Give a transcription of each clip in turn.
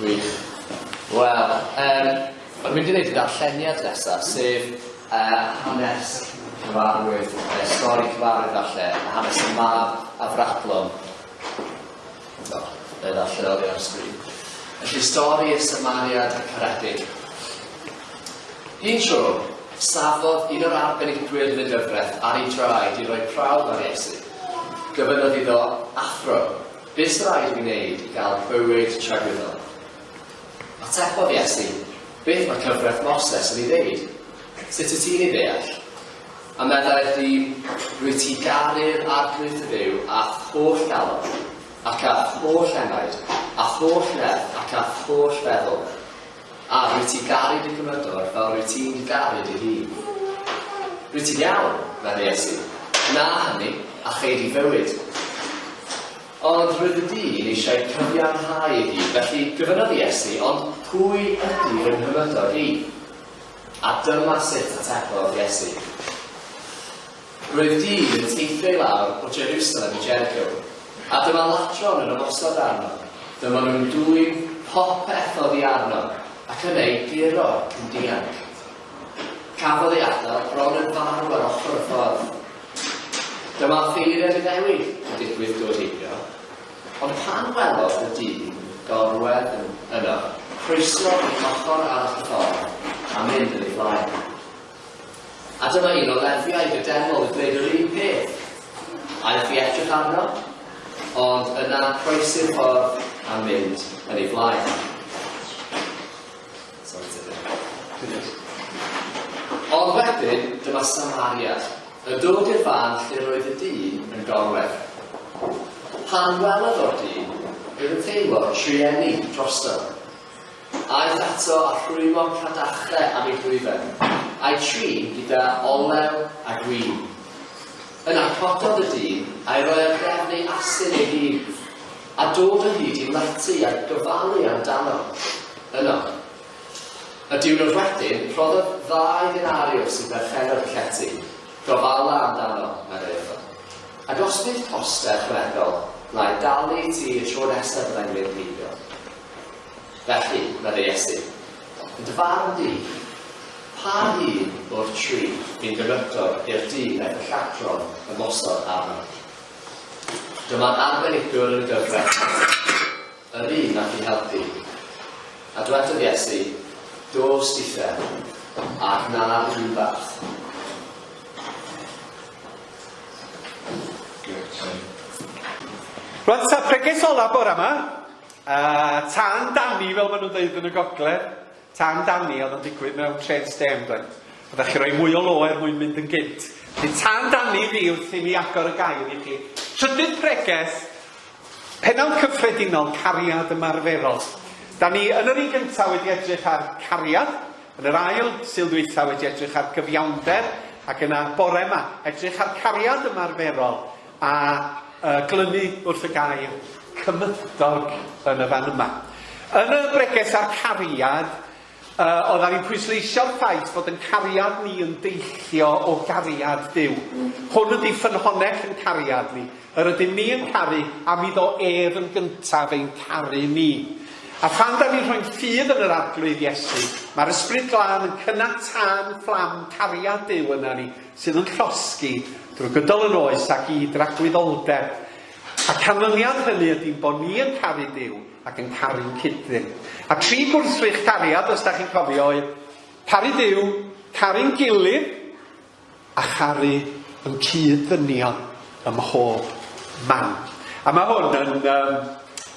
Gwych. Wel, um, o'n mynd i wneud y darlleniad nesaf, sef uh, hanes cyfarwydd, uh, stori cyfarwydd falle, hanes y mab a frachlwm. Do, fe ddaw lleoli ar y sgrin. Felly, stori y Samariad y Caredig. Un tro, safodd un o'r arbenigwyr yn y gyfraith ar ei draed i roi prawf ar Iesu. Gyfynodd iddo, Athro, bys rhaid mi wneud i gael bywyd tragwyddol? Atebodd Iesu, Beth mae cyfraith Moses yn ei ddeud? Sut y ti'n ei ddeall? A meddai wrthi, Rwyt ti garu'r Arglwydd dy Dduw a'th holl galon, ac a'th holl enaid, a'th holl nerth, ac a'th holl feddwl, a rwyt ti garu dy Gymydwr fel rwyt ti'n garu dy hun. Rwyt ti'n iawn, meddai Iesu, gwna hynny, a chei di fywyd. Ond roedd y dyn eisiau cyfiawnhau ei hun, felly gofynnodd Iesu, Ond pwy ydy fy Nghymydwr i? A dyma sut atebodd Iesu, Roedd dyn yn teithio i lawr o Jerusalem i Jericho, a dyma ladron yn ymosod arno. Dyma nhw'n dwyn popeth oddi arno ac yn ei guro yn dianc. Cafodd ei adael bron yn farw ar ochr y ffordd. Dyma offeiriad Iddewig yn digwydd dod heibio. Ond pan welodd y dyn gorwedd yn yno, croeso i ochr arall y ffordd, a mynd yn ei flaen. A dyma un o Lefiaid y deml yn dweud yr un peth. Aeth i edrych arno, ond yna croesi'r ffordd a mynd yn ei flaen. Sori te dde. Cynnydd. Ond wedyn, dyma Samariad, yn dod i'r fan lle roedd y dyn yn gorwedd. Pan welodd o'r dyn, roedd yn teimlo trueni drosto. Aeth ato a rhwymo cadachre am ei ddwyfen, a'i trin gyda olew a gwyn. Yna cododd y dyn a'i roi ar gefn ei asyn ei hun, a dod o hyd i Leti a gofalu amdano. Yno. Y diwrnod wedyn, rhoddodd ddau ddenariws i berchennog y llety. Gofala amdano, meddai wrtho. Ac os bydd poster rhyfeddol na'i dalu i ti y tro nesaf fyddai'n mynd heibio. Felly, meddai Iesu, yn dy farn di, pa un o'r tri fi'n gymydog i'r dyn aeth y lladron ymosod arno? Dyma arbenigwr yn gyfres yr un ac i helpu. A dwedodd Iesu, Do, Stephen, a gwna un barth. Rwan ta preges ola bore yma, a tan Danny fel maen nhw'n dweud yn y gogledd. Tan dani oedd yn digwydd mewn trên stêm doedd? Oeddach chi roi mwy o lo er mwyn mynd yn gynt. Felly tan dani fi wrth i mi agor y gair i chi. Trydydd preges, penawd cyffredinol cariad ymarferol. Da ni yn yr un gyntaf wedi edrych ar cariad, yn yr ail sil ddwytha wedi edrych ar gyfiawnder, ac yna bore yma, edrych ar cariad ymarferol. A y glynu wrth y gair cymydog yn y fan yma. Yn y breges a'r cariad, uh, oedd ar i'n pwysleisio'r ffaith bod yn cariad ni yn deillio o gariad Dyw. Hwn ydy ffynhonnell yn cariad ni. Yr ydym ni yn caru a mi ddo ef yn gyntaf ein caru ni. A phan da ni'n rhoi'n ffydd yn yr arglwydd Iesu, mae'r ysbryd glân yn cynnal tân fflam cariad Dyw yna ni, sydd yn llosgi drwy gydol yr oes ac i dragwyddoldeb. A canlyniad hynny ydi ein bod ni yn caru Duw ac yn caru'n cyd-dyn. A tri gwrthrych cariad, os da chi'n cofio, oedd caru Duw, caru'n gilydd, a charu yn cyd-ddynion ym mhob man. A mae hwn yn um,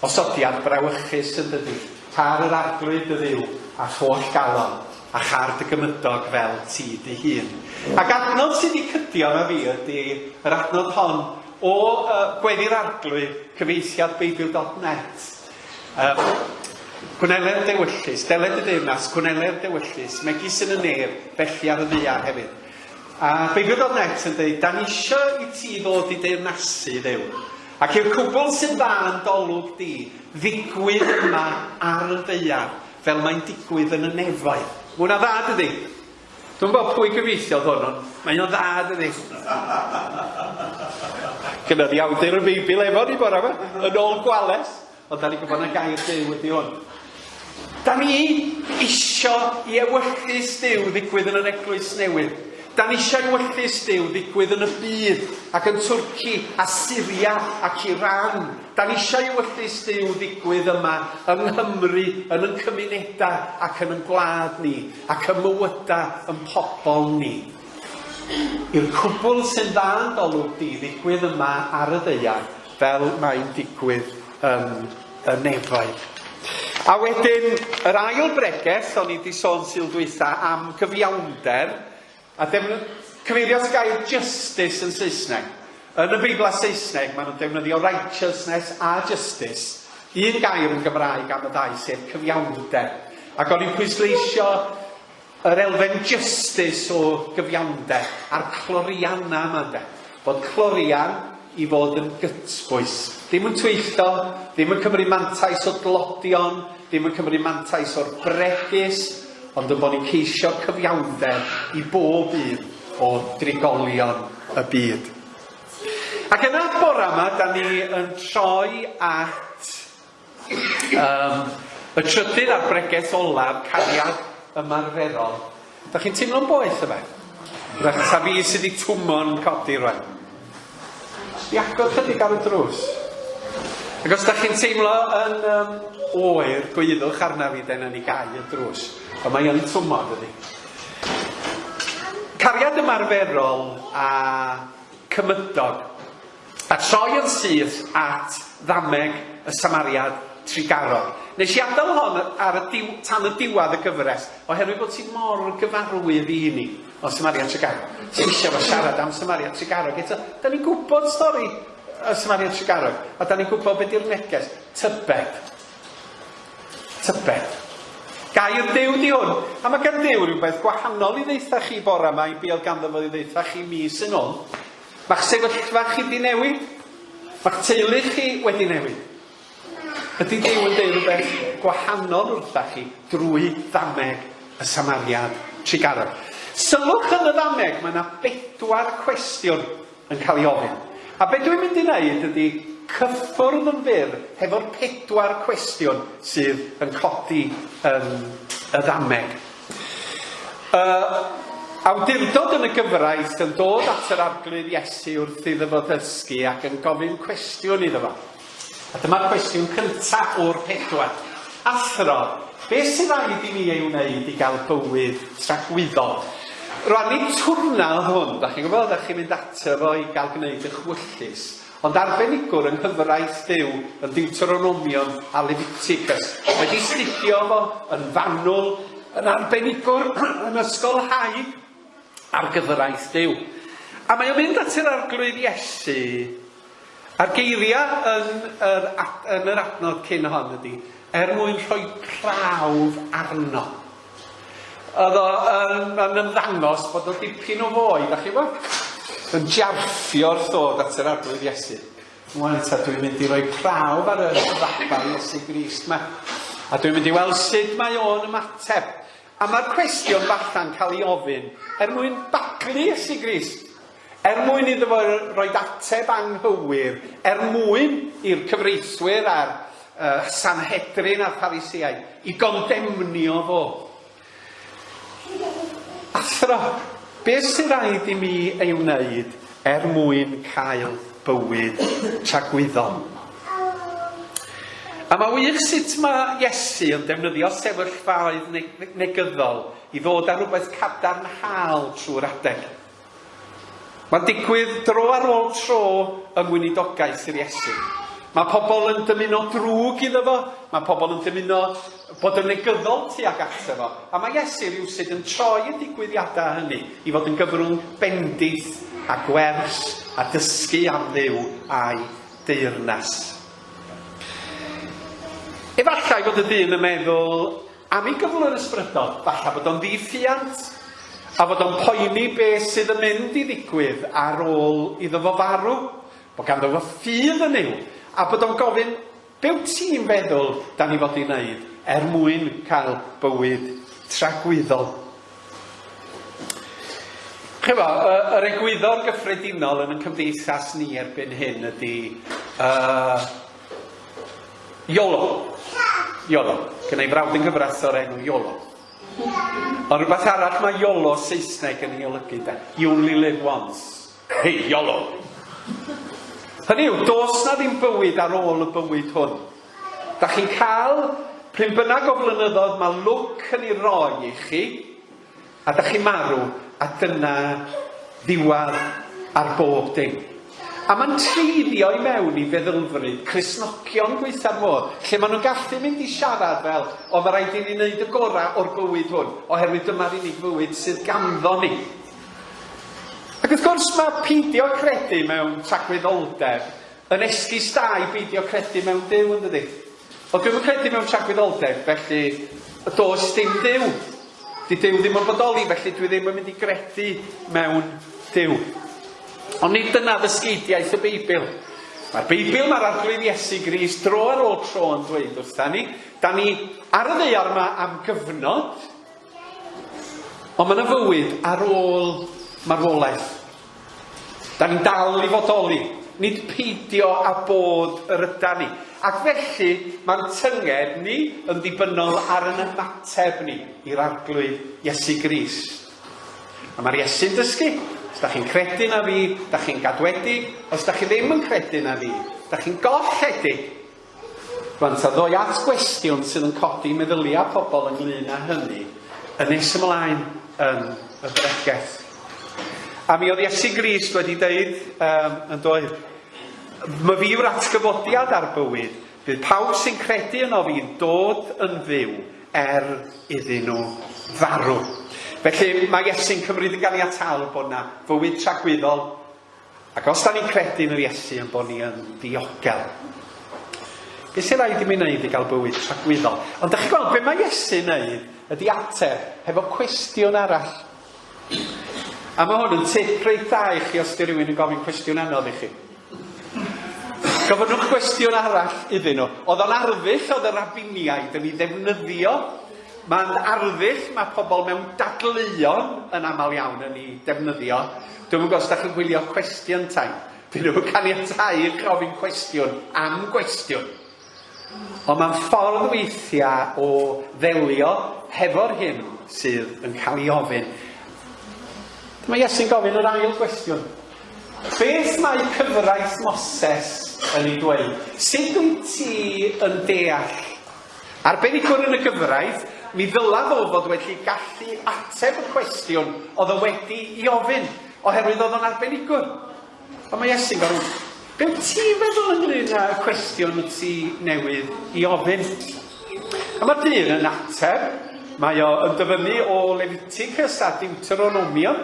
osodiad brawychus yn dydi, car yr arglwydd y dduw a tholl galon. A char dy gymydog fel ti dy hun. Ac adnodd sydd i cydion a fi ydy yr adnodd hon o y Gweddi'r Arglwydd, cyfieithiad Beibl dot net. Yym, Gwnele'r dewyllys, deled y deyrnas, gwnele'r dewyllys, megis yn y nef, felly ar y ddaear hefyd. A Beibl dot net yn dweud, da ni eisiau i ti ddod i deyrnasu ddew. Ac i'r cwbl sy'n dda yn dolwg di, ddigwydd yma ar y ddaear, Fel mae'n digwydd yn y nefaid. Mae hwnna'n dda, dydi? Dwi'm yn gwybod pwy gyfieithiodd hwn, ond mae o'n dda, dydi? Gyda ni awdur y Beibl efo ni bore yma, yn ôl gwales, ond da ni'n gwybod na gair Duw ydi hwn. Da ni isio i ewyllys Duw ddigwydd yn yr eglwys newydd. Da ni eisiau ewyllys Duw ddigwydd yn y byd, ac yn Twrci, a Syria, ac Iran, Da ni eisiau i Ewyllys Duw ddigwydd yma yng Nghymru, yn yn cymunedau ac yn yn gwlad ni, ac ym mywydau yn pobl ni. I'r cwbl sy'n dda yn d'olwg di ddigwydd yma ar y ddaear, fel mae'n digwydd yn y nefoedd. A wedyn, yr ail bregeth, o'n i wedi sôn sildwytha am gyfiawnder, A defnydd, Cyfeirio at y gair justice yn Saesneg. Yn y Beiblau Saesneg, maen nhw'n defnyddio righteousness a justice, un gair yn Gymraeg am y ddau, sef cyfiawnder. Ac o'n i'n pwysleisio yr elfen justice o gyfiawnder a'r clorianau yma, ynde. Bod clorian i fod yn gytbwys. Ddim yn twyllo, ddim yn cymryd mantais o dlodion, ddim yn cymryd mantais o'r bregus, ond ein bod ni'n ceisio cyfiawnder i bob un o drigolion y byd. Ac yna, bore 'ma, 'dan ni yn troi at Yym, y trydydd a'r bregeth olaf, cariad ymarferol. Dach chi'n teimlo'n boeth yma? Rach, ta fi sydd wedi twmo'n codi rwan? Jyst i agor chydig ar y drws. Ac os dach chi'n teimlo yn um, oer, gwyddwch arna fi, dyna ni gau y drws. Ond mae yn twmo, dydy. Cariad ymarferol a cymydog. A troi yn syth at ddameg y samariad trugarog. Nes i adael hon ar y diw- tan y diwadd y gyfres, oherwydd bod ti mor gyfarwydd i ni o samariad trugarog. Ti eisiau fo siarad am samariad trugarog eto. Da ni'n gwybod stori y samariad trugarog, a da ni'n gwybod beth di'r neges. Tybed. Tybed. Gair Duw di hwn, a mae gan Duw rhywbeth gwahanol i ddeitha chi bora yma i be oedd ganddo fo i ddeitha chi mis yn ôl. Mae'ch sefyllfa chi 'di newid? Mae'ch teulu chi wedi newid? Ydy Duw yn deud rhywbeth gwahanol wrtha chi drwy ddameg y Samariad trugarog? Sylwch yn y ddameg, mae 'na bedwar cwestiwn yn cael ei ofyn. A be dwi'n mynd i wneud ydy cyffwrdd yn fyr hefo'r pedwar cwestiwn sydd yn codi yn y ddameg. Y awdurdod yn y gyfraith yn dod at yr Arglwydd Iesu wrth iddo fo ddysgu ac yn gofyn cwestiwn iddo fo. A dyma'r cwestiwn cyntaf o'r pedwar. Athro, be sy'n rhaid i mi ei wneud i gael bywyd tragwyddol? Rwan, nid twrna oedd hwn, da chi'n gwybod, da chi'n mynd ato fo i gael gwneud eich wyllys. Ond arbenigwr yng nghyfraith byw yn Deuteronomion a Leviticus, wedi 'studio fo yn fanwl, yn arbenigwr yn ysgolhaig ar gyfraith Duw. A mae o'n mynd at yr Arglwydd Iesu, a'r geiriau yn yr, yn yr adnod cyn hon ydy, er mwyn rhoi prawf arno. Oedd o yn, yn ymddangos bod o dipyn o foi, da chi bo? Yn jarffio wrth ddod at yr arglwydd Iesu. Mwaen ta, dwi'n mynd i roi prawf ar y rabar Iesu Grist ma. A dwi'n mynd i weld sut mae o'n ymateb. A mae'r cwestiwn falla'n cael ei ofyn er mwyn baglu Iesu Grist. Er mwyn iddo fo roid ateb anghywir, er mwyn i'r cyfreithwyr a'r Sanhedrin a'r Pharisiaid i gondemnio fo. Athro, beth sy'n rhaid i mi ei wneud er mwyn cael bywyd tragwyddol? A mae wych sut mae Iesu yn defnyddio sefyllfaoedd negyddol i ddod â rhywbeth cadarnhaol trwy'r adeg. Mae'n digwydd dro ar ôl tro yng ngweinidogaeth yr Iesu. Mae pobl yn dymuno drwg iddo fo, mae pobl yn dymuno bod yn negyddol tuag ato fo, a mae Iesu rywsut yn troi y digwyddiadau hynny i fod yn gyfrwng bendith a gwers a dysgu am Dduw a'i deyrnas. Efallai fod y dyn yn meddwl Am ei gyflwr yn ysbrydol, falla bod o'n ddi-ffiant, a fod o'n poeni be sydd yn mynd i ddigwydd ar ôl iddo fo farw, bod ganddo fo ffydd yn Nuw, a bod o'n gofyn, 'Be wyt ti'n feddwl 'da ni fod i wneud er mwyn cael bywyd tragwyddol? Chibod, y, yr egwyddor gyffredinol yn y cymdeithas ni erbyn hyn ydy, uh, Iolo. Iolo. Gyda ei frawd yn gyfraith o'r enw Iolo. Ond rhywbeth arall mae Iolo Saesneg yn ei olygu da. You only live once. Hey, Iolo. Hynny yw, dos na ddim bywyd ar ôl y bywyd hwn. Da chi'n cael pryn bynnag o flynyddoedd mae lwc yn ei roi i chi, A dach chi'n marw, a dyna ddiwadd ar bob dim. A ma'n treiddio i mewn i feddylfryd Cristnogion gwaetha'r modd, lle ma' nhw'n gallu mynd i siarad fel, o ma' raid i ni wneud y gora o'r bywyd hwn, oherwydd dyma'r unig fywyd sydd ganddo ni. Ac wrth gwrs ma' peidio credu mewn tragwyddoldeb yn esgus da i beidio credu mewn Duw, yndydi? Ond dwi'm yn credu mewn tragwyddoldeb, felly, y does dim Duw. Di Duw ddim yn bodoli, felly dwi ddim yn mynd i gredu mewn Duw. Ond nid dyna ddysgeidiaeth y Beibl. Mae'r Beibl, mae'r Arglwydd Iesu Grist, dro ar ôl tro yn dweud wrtha ni, da ni ar y ddeiar yma am gyfnod, ond mae yna fywyd ar ôl marwolaeth. Da ni'n dal i fodoli, nid peidio â bod yr ydan ni, ac felly mae'n tynged ni yn ddibynnol ar yn ymateb ni i'r Arglwydd Iesu Grist. A mae'r Iesu'n dysgu, os da chi'n credu na fi, da chi'n gadwedig, os da chi ddim yn credu na fi, da chi'n golledig. Rŵan ta, ddoi at gwestiwn sydd yn codi meddyliau pobl ynglŷn â hynny yn nes ymlaen yn y bregeth. A mi oedd Iesu Grist wedi deud um, yn doedd, my fi yw'r atgyfodiad a'r bywyd, bydd pawb sy'n credu yno fi'n dod yn fyw er iddyn nhw farw. Felly mae Iesu'n cymryd yn ganiataol bod yna fywyd tragwyddol Ac os da ni'n credu yn yr Iesu yn bod ni yn ddiogel, beth sy'n rhaid i mi wneud i gael bywyd tragwyddol? Ond da chi gweld, be mae Iesu yn neud ydy ateb hefo cwestiwn arall. A mae hwn yn tip reit da i chi os di rhywun yn gofyn cwestiwn anodd i chi. Gofynnwch gwestiwn arall iddyn nhw. Oedd o'n arddull oedd y rabiniaid yn ei ddefnyddio Mae'n arddull mae pobl mewn dadleuon yn aml iawn yn ei defnyddio, Dwi'm yn gwybod os dach chi'n gwylio Cwestiwn Time, dyn nhw'm yn caniatáu i chi ofyn cwestiwn am gwestiwn. Ond mae'n ffordd weithiau o ddelio hefo'r hyn sydd yn cael ei ofyn. Mae Iesu'n gofyn yr ail gwestiwn. Beth mae cyfraith Moses yn ei dweud? Sut wyt ti yn deall Arbenigwr yn y gyfraith, mi ddyla fo fod wedi gallu ateb y cwestiwn o'dd o wedi 'i ofyn, oherwydd o'dd o'n arbenigwr. Ond mae Iesu'n gofyn, Be' wt ti'n feddwl ynglŷn â y cwestiwn wt ti newydd 'i ofyn? A mae'r dyn yn ateb, mae o yn dyfynnu o Leviticus a Deuteronomion,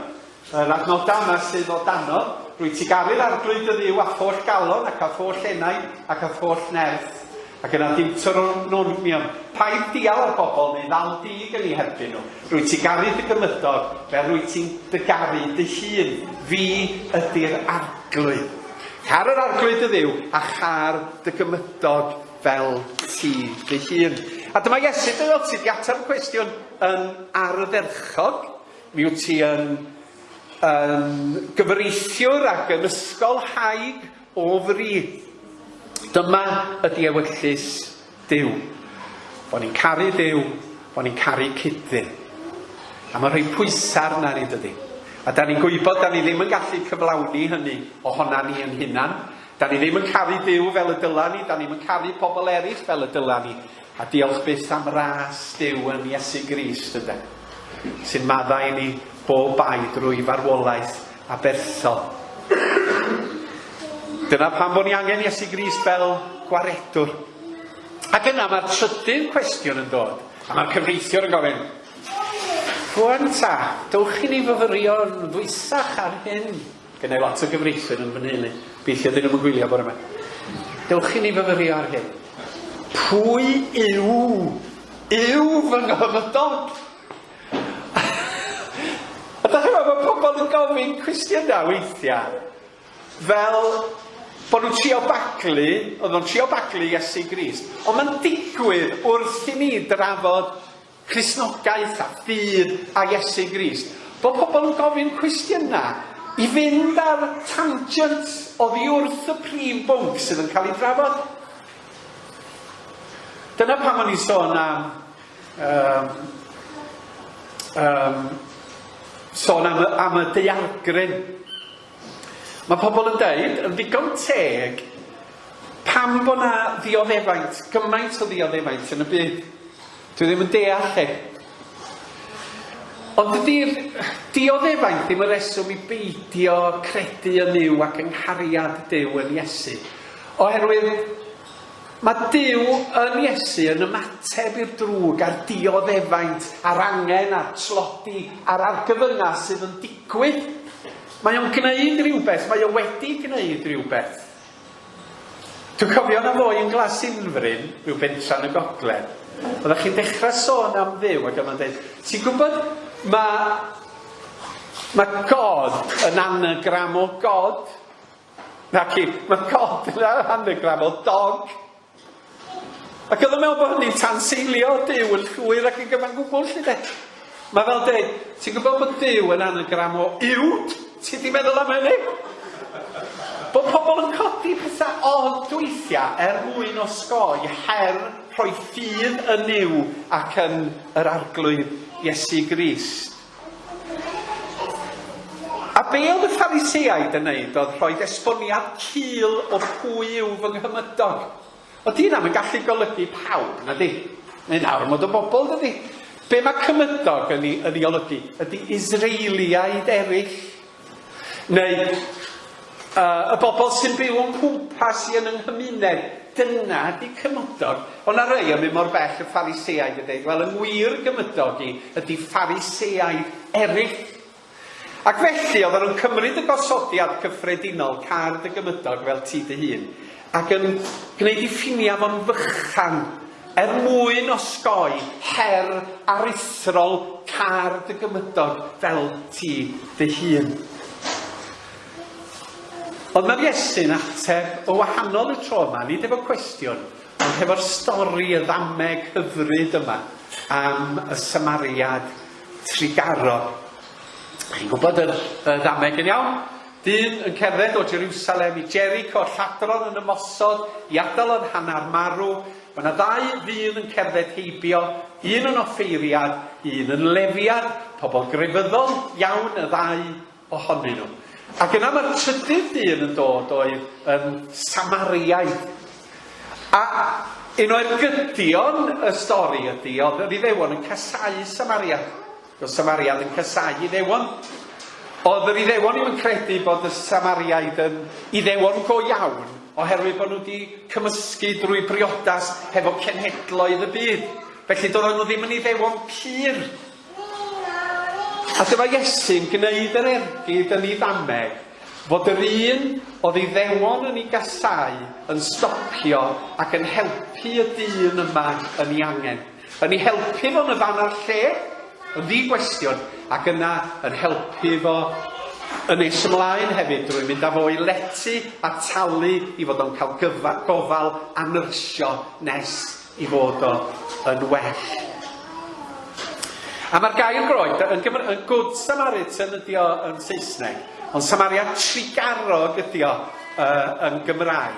Yr adnoddau yma sydd o dano, Rwyt ti garu'r Arglwydd dy Dduw â holl galon ac â holl enaid ac â holl nerth. Ac yna dim twrwm Nurmion. Paid dial ar bobl neu ddal dug yn eu herbyn nhw. Rwyt ti garu dy gymydog fel rwyt ti'n dy garu dy hun. Fi ydy'r Arglwydd. Car yr Arglwydd dy Dduw a char dy gymydog fel ti dy hun. A dyma Iesu, dy ddyled ti, di ateb y cwestiwn yn ardderchog. Mi wyt ti yn yn gyfreithiwr ac yn ysgolhaig o fri. Dyma ydi ewyllys Duw. Bo' ni'n caru Duw, bo' ni'n caru cyd-dyn. A mae'n rhoi pwysa' arna ni, dydi? A 'dan ni'n gwybod 'dan ni ddim yn gallu cyflawni hynny ohona ni yn hunan. 'Dan ni ddim yn caru Duw fel y dyla ni, 'dan ni'm yn caru pobl eraill fel y dyla ni. A diolch byth am ras Duw yn Iesu Grist, ynde, sy'n maddau i ni bob bai drwy farwolaeth aberthol. Dyna pam bod ni angen Iesu Grist fel gwaredwr. Ac yna mae'r trydydd cwestiwn yn dod, a mae'r cyfreithiwr yn gofyn, Rwan ta, dowch i ni fyfyrio yn ddwysach ar hyn. Gennai lot o gyfreithwyr yn fy nheulu. Gobeithio 'dyn nhw'm yn gwylio bore 'ma. Dewch i ni fyfyrio ar hyn. Pwy yw yw fy nghofydog? A da chi'n meddwl, mae pobl yn gofyn cwestiynau weithiau, fel bod nhw'n trio baglu, oedd nhw'n trio baglu Iesu Grist. Ond mae'n digwydd wrth i ni drafod Cristnogaeth a ffydd â Iesu Grist. Bod pobl yn gofyn cwestiynau i fynd ar tangent oddi wrth y prif bwnc sydd yn cael ei drafod. Dyna pam o'n i'n sôn am um, um, sôn am, am y deialgryn. Mae pobl yn dweud, yn ddigon teg, pam bod na ddioddefaint, gymaint o ddioddefaint yn y byd. Dwi ddim yn deall chi. Ond dydi'r dioddefaint ddim yn reswm i beidio credu yn Nuw ac yng nghariad Duw yn Iesu. Oherwydd mae Duw yn Iesu yn ymateb i'r drwg a'r dioddefaint a'r angen a'r tlodi a'r argyfyngau sydd yn digwydd. Mae o'n gwneud rhywbeth, mae o wedi gwneud rhywbeth. Dwi'n cofio na fo i yn Glas Unfryn, rhyw bentra yn y gogledd. Oeddach chi'n dechra sôn am Dduw ac yma'n deud, ti'n gwybod, mae, mae God yn anagram o God. Naci, mae God yn anagram o dog. Ac oedd yn meddwl bod hynny'n tanseilio Duw yn llwyr ac yn gyfan gwbl, lli de. Mae fel dweud, ti'n gwybod bod Duw yn anagram o uwd? Ti wedi meddwl am hynny? Bod pobl yn codi pethau od weithiau er mwyn osgoi her rhoi ffydd yn Nuw ac yn yr Arglwydd Iesu Grist. A be oedd y Phariseaid yn neud oedd rhoi esboniad cul o pwy yw fy nghymydog. O dyn am yn gallu golygu pawb, na di? Mae'n armod o bobl, dydy? Be mae cymydog yn ei, yn ei olygu? Ydy Israeliaid eraill Neu, uh, y bobl sy'n byw o'n cwmpas i yn yng nghymuned, dyna ydi cymydog. Ond na rei yn mynd mor bell y Phariseaid yn deud, wel, yng ngwir gymydog i ydi Phariseaid eraill. Ac felly, oedden nhw'n cymryd y gosodiad cyffredinol, card y gymydog fel ti dy hun. Ac yn gwneud ei ffiniau fo'n fychan er mwyn osgoi her aruthrol car dy gymydog fel ti dy hun. Ond mae'r Iesu'n ateb o wahanol y tro yma, nid efo cwestiwn, ond hefo'r stori y ddameg hyfryd yma am y Samariad trugarog. Chi'n gwybod yr, y ddameg yn iawn? Dyn yn cerdded o Jerusalem i Jericho, lladron yn ymosod i adael yn hanner marw, mae yna ddau ddyn yn cerdded heibio, un yn offeiriad, un yn lefiad, pobl grefyddol iawn y ddau ohonyn nhw. Ac yna mae'r trydydd dyn yn dod oedd yn Samariaid. A un o ergydion y stori ydy oedd yr Iddewon yn casau Samariaid. Doedd Samaria ddim yn casáu Iddewon. Oedd yr Iddewon ddim yn credu bod y Samariaid yn Iddewon go iawn oherwydd bod nhw wedi cymysgu drwy briodas hefo cenhedloedd y byd. Felly doedden nhw ddim yn Iddewon pur. A dyma Iesu'n gwneud yr ergyd yn ei ddameg fod yr un oedd Iddewon yn ei gasau yn stopio ac yn helpu y dyn yma yn ei angen. Yn ei helpu fo yn y fan a'r lle, yn ddi-gwestiwn, ac yna yn helpu fo yn nes ymlaen hefyd drwy mynd â fo i lety a talu i fod o'n cael gyfa- gofal a nyrsio nes i fod o yn well. A mae'r gair groeg, yn Gymr- yn Good Samaritan ydi o yn Saesneg, ond Samaria trigarog ydi o yy yn Gymraeg.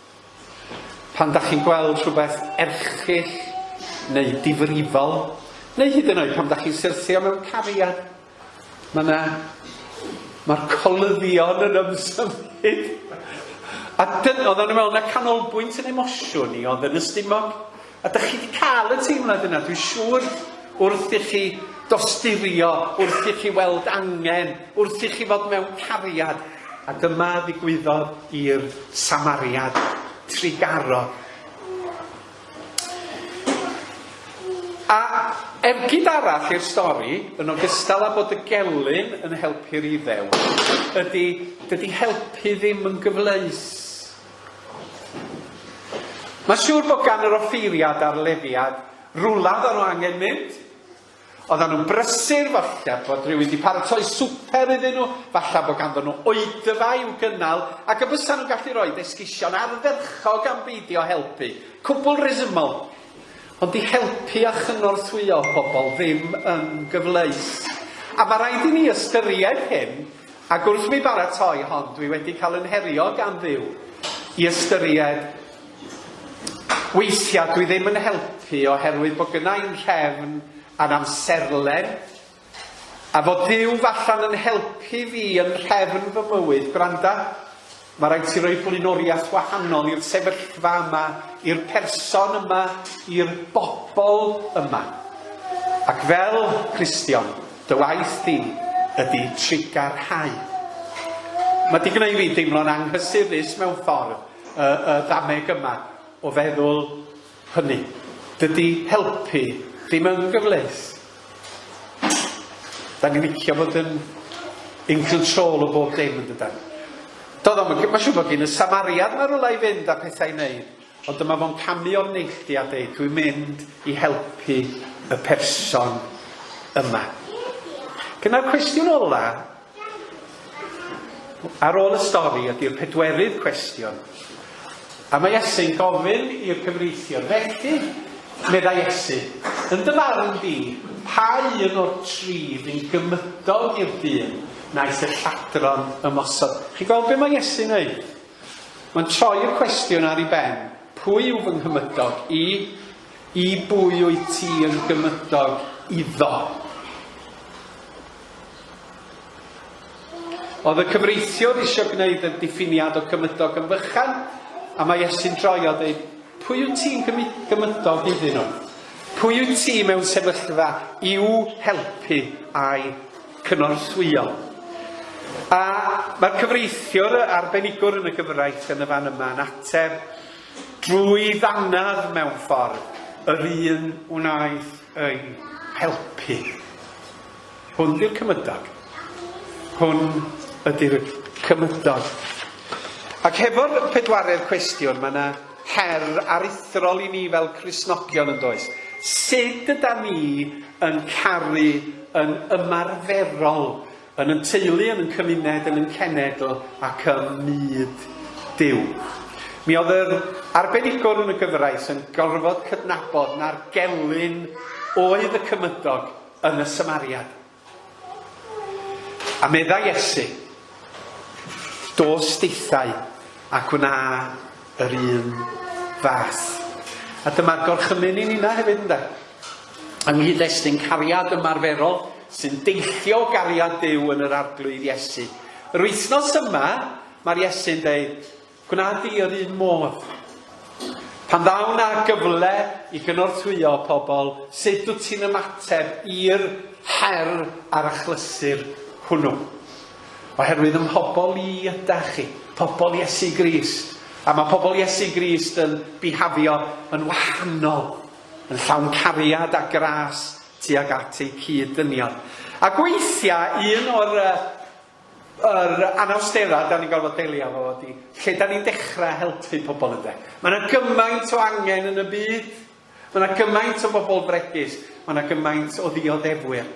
Pan dach chi'n gweld rhywbeth erchyll neu difrifol, neu hyd yn oed pan dach chi'n syrthio mewn cariad, mae yna... mae'r colyddion yn ymsymud. A dyn, oedden nhw'n meddwl na canolbwynt yn emosiwn i oedd yn ystumog, A dych chi 'di cael y teimlad yna, dwi'n siŵr, wrth i chi dosturio, wrth i chi weld angen, wrth i chi fod mewn cariad. A dyma ddigwyddodd i'r Samariad trigarog. A ergyd arall i'r stori, yn ogystal â bod y gelyn yn helpu'r Iddew, ydy, dydy helpu ddim yn gyfleus. Mae'n siŵr bod gan yr offeiriad a'r lefiad rwla oeddan nhw angen mynd. Oeddan nhw'n brysur, falle bod rhywun wedi paratoi swper iddyn nhw, falle bod ganddyn nhw oedfa i'w gynnal, ac y bysan nhw'n gallu rhoi esgusion ardderchog am beidio helpu. Cwbl resymol. Ond 'di helpu a chynorthwyo pobl ddim yn gyfleus. A mae rhaid i ni ystyried hyn Ac wrth mi baratoi hon dwi wedi cael yn herio gan Dduw i ystyried weithiau dwi ddim yn helpu oherwydd bod gynna i'n nhrefn a'n amserlen a fod Duw falle'n yn helpu fi yn nhrefn fy mywyd, gwranda, Mae rhaid ti roi blaenoriaeth wahanol i'r sefyllfa yma, i'r person yma, i'r bobl yma. Ac fel Cristion, dy waith di ydy trugarhau. Mae di gwneud fi deimlo'n anghysurus mewn ffordd, y, y ddameg yma o feddwl hynny. Dydy helpu ddim yn gyfleus. Da ni'n licio bod yn in control o bob dim yn dydan. Doedd o'm yn gy- mae'n siŵr bod gyn y samariad yma rywle i fynd a pethau i wneud, ond dyma fo'n camu o'r neilltu a deud, dwi'n mynd i helpu y person yma. Gyda'r cwestiwn ola, Ar ôl y stori ydy'r pedwerydd cwestiwn. A mae Iesu'n gofyn i'r cyfreithiwr, Felly, meddai Iesu, yn dy farn di, pa un o'r tri fi'n gymydog i'r dyn naeth y lladron ymosod? Chi gweld beth mae Iesu'n wneud? Mae'n troi'r cwestiwn ar ei ben. Pwy yw fy nghymydog i? I bwy wyt ti yn gymydog iddo? Oedd y cyfreithiwr eisiau gwneud y diffiniad o gymydog yn fychan, a mae Iesu'n droi a dweud, Pwy wyt ti'n gymydog iddyn nhw? Pwy wyt ti mewn sefyllfa i'w helpu a'i cynorthwyo? A mae'r cyfreithiwr arbenigwr yn y gyfraith yn y fan yma yn ateb drwy ddannedd mewn ffordd yr un wnaeth eu helpu. Hwn ydy'r cymydog. Hwn ydy'r cymydog. Ac hefo'r pedwaredd cwestiwn, mae yna her aruthrol i ni fel Cristnogion yn does. Sut yda ni yn caru yn ymarferol Yn yn teulu, yn yn cymuned, yn yn cenedl ac ym myd Duw. Mi oedd yr arbenigwr yn y gyfraith yn gorfod cydnabod na'r gelyn oedd y cymydog yn y Samariad. A meddai Iesu, Dos dithau ac wna yr un fath. A dyma'r gorchymyn i ninna hefyd ynde? Yng nghyd-destun cariad ymarferol sy'n deillio o gariad Duw yn yr Arglwydd Iesu. Yr wythnos yma, mae'r Iesu'n dweud, gwna di yr un modd. Pan ddaw na gyfle i gynorthwyo pobl, sut dw ti'n ymateb i'r her a'r achlysur hwnnw? Oherwydd ym mhobl i ydach chi, pobl Iesu Grist. A mae pobl Iesu Grist yn bihafio yn wahanol, yn llawn cariad a gras tuag at eu cyd-dynion. Ac weithiau, un o'r uh, yr anawsterau da ni'n gorfod delio efo fo ydy lle da ni'n dechrau helpu pobl ynde. Mae yna gymaint o angen yn y byd Mae yna gymaint o bobl bregus, mae yna gymaint o ddioddefwyr.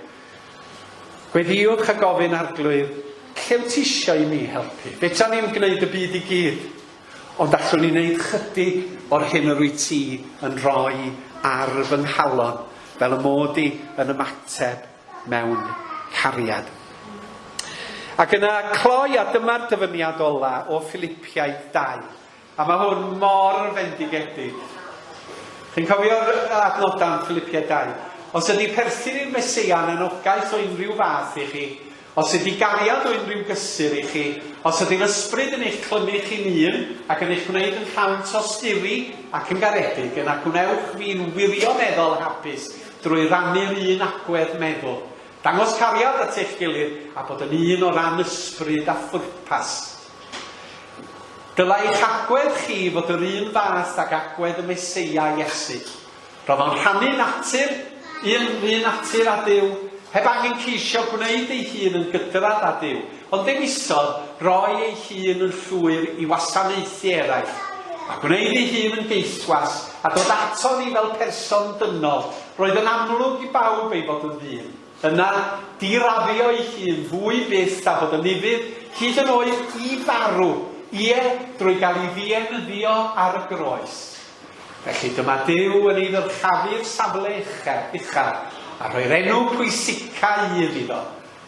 Gweddïwch a gofyn arglwydd, lle wyt ti eisiau i mi helpu? Fedran ni'n gwneud y byd i gyd, ond allwn ni wneud chydig o'r hyn yr wyt ti yn rhoi ar fy nghalon, fel y mod i yn ymateb mewn cariad. Ac yna cloi, a dyma'r dyfyniad ola o Filipiaid 2. A mae hwn mor fendigedig. Chi'n cofio'r adnodau yn Ffilipiaid 2? Os ydy perthyn i'r Meseia yn anogaeth o unrhyw fath i chi, os ydy gariad o unrhyw gysur i chi, os ydy'r Ysbryd yn eich clymu chi'n un ac yn eich gwneud yn llawn tosturi ac yn garedig, yna gwnewch fi'n wirioneddol hapus drwy rannu'r un agwedd meddwl, dangos cariad at eich gilydd a bod yn un o ran ysbryd a phwrpas. Dylai eich agwedd chi fod yr un fath ag agwedd y Meseia, Iesu. Roedd o'n rhannu natur, un, un natur â Duw, heb angen ceisio gwneud ei hun yn gydradd â Duw, ond dewisodd roi ei hun yn llwyr i wasanaethu eraill, a gwneud ei hun yn geithwas, a dod aton ni fel person dynol. Roedd yn amlwg i bawb ei fod yn ddyn. Yna, diraddio ei hun fwy fyth a bod yn ufudd, hyd yn oed i farw, ie, drwy gael ei ddienyddio ar y groes. Felly, dyma Duw yn ei ddyrchafu'r safle uchel, uchel, a rhoi'r enw pwysica un iddo.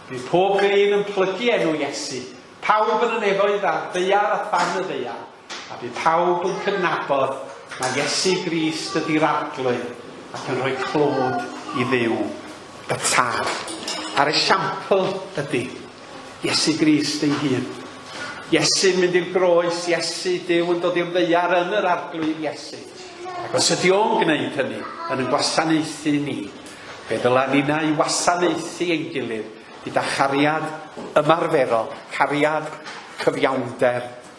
Bydd pob glin yn plygu enw Iesu, pawb yn y nefoedd a'r ddaear a than y ddaear. A bydd pawb yn cydnabod mai Iesu Grist ydy'r Arglwydd ac yn rhoi clod i Dduw y Tad. A'r esiampl ydy Iesu Grist ei hun. Iesu'n mynd i'r groes, Iesu, Duw yn dod i'r ddeiar yn yr Arglwydd Iesu. Ac os ydy o'n gwneud hynny yn yn gwasanaethu ni, fe ddyla nina i wasanaethu ein gilydd gyda chariad ymarferol, cariad, cyfiawnder